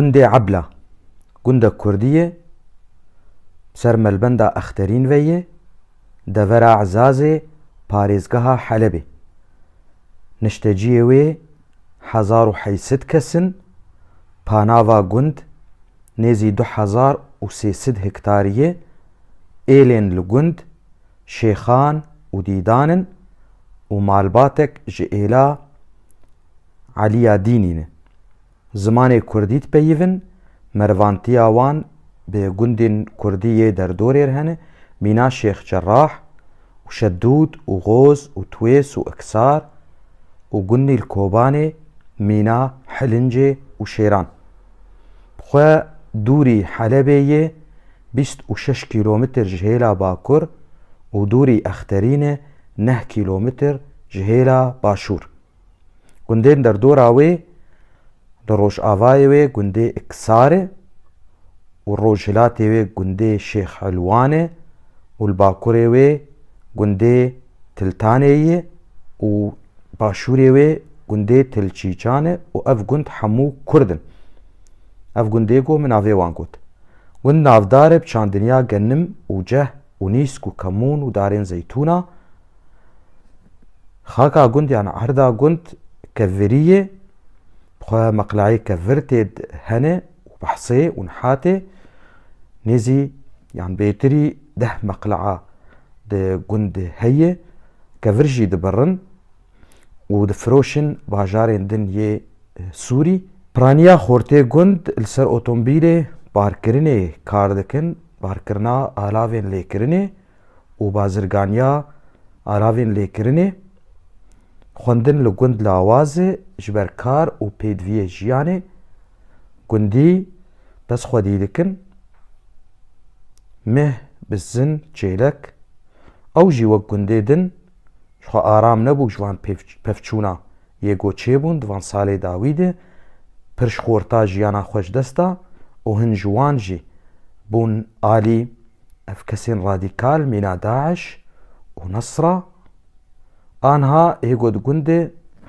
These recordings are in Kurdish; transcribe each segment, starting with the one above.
Gundê Ebla, gundek kurdî ye, ser melbenda Exterîn ve ye, devera Ezazê parêzgeha Helebê. Nişteciyê wê hezar û heşt sed kes in, panava gund nêzî du hezar û sê sed hektarî ye, êlên li gund Şêxan û Dîdan in û malbatek ji êla Elîya Dînî ne. Zimanê kurdî dipeyivin, merivantîya wan bi gundên kurdî yê derdorê re hene, mîna Şêx Cerrah û Şedûd û Goz û Twês û Iksar û gundî li Kobanê mîna Hilincê û Şêran. Bi xwe dûrî Helebê yê bîst û şeş kîlomitr ji hêla bakur û dûrî Exterîne neh kîlomitr ji hêla başûr. Gundên derdora wê li rojavayê wê gundê Iksar e û rojhilatê wê gundê Şêx Elwan e û li bakurê wê gundê Tiltaneyî ye û başûrê wê gundê Tilçîçan e û ev gund hemû Kurd in. Ev gundê ku min navê wan got. Gund navdar e bi çandinya Genim û Ceh. û nîsk û kemûn û darên zeytûn a. Xaka gund yan erda gund kevirî yê, bi xwe meqleyê kevir tê di hene û behsê û nihatê nêzî yan bêtirî deh meqleya di gundê heyê. Kevir jî dibirin. û difiroşin bajarên din yê Sûrî. Piraniya Xortê Gund li ser otomobîlê parkirinê kar dikin, parkirina alavên lêkirinê û bazirganiya alavên lêkirinê. Xwendin li gund lawaz e ji ber kar û pêdiviyê jiyanê gundî dest xwedî dikin. Meh, bizin, çêlek ew jî wek gundê din Ji xwe aram nebû ji van pevçûna yê ku çêbûn di van salê dawî de pir ji xorta jiyana xwe ji dest da û hin ji wan jî bûn alî ev kesên radîkal mîna Daîş û Nasra anha hê ku di gundê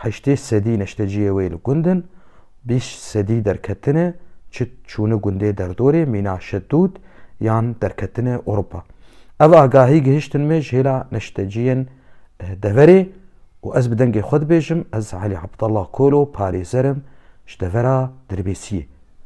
heştê sedî neşteciyê wê li gund in Bîst sedî derketine çi çûne gundê derdorê mîna Şedûd yan derketine Ewropa. Ev agahî gihiştin me ji hêla neşteciyên deverê û ez bi dengê xwe dibêjim ez Elî Abdallah Kolo parêzer im ji devera Dirbêsiyê.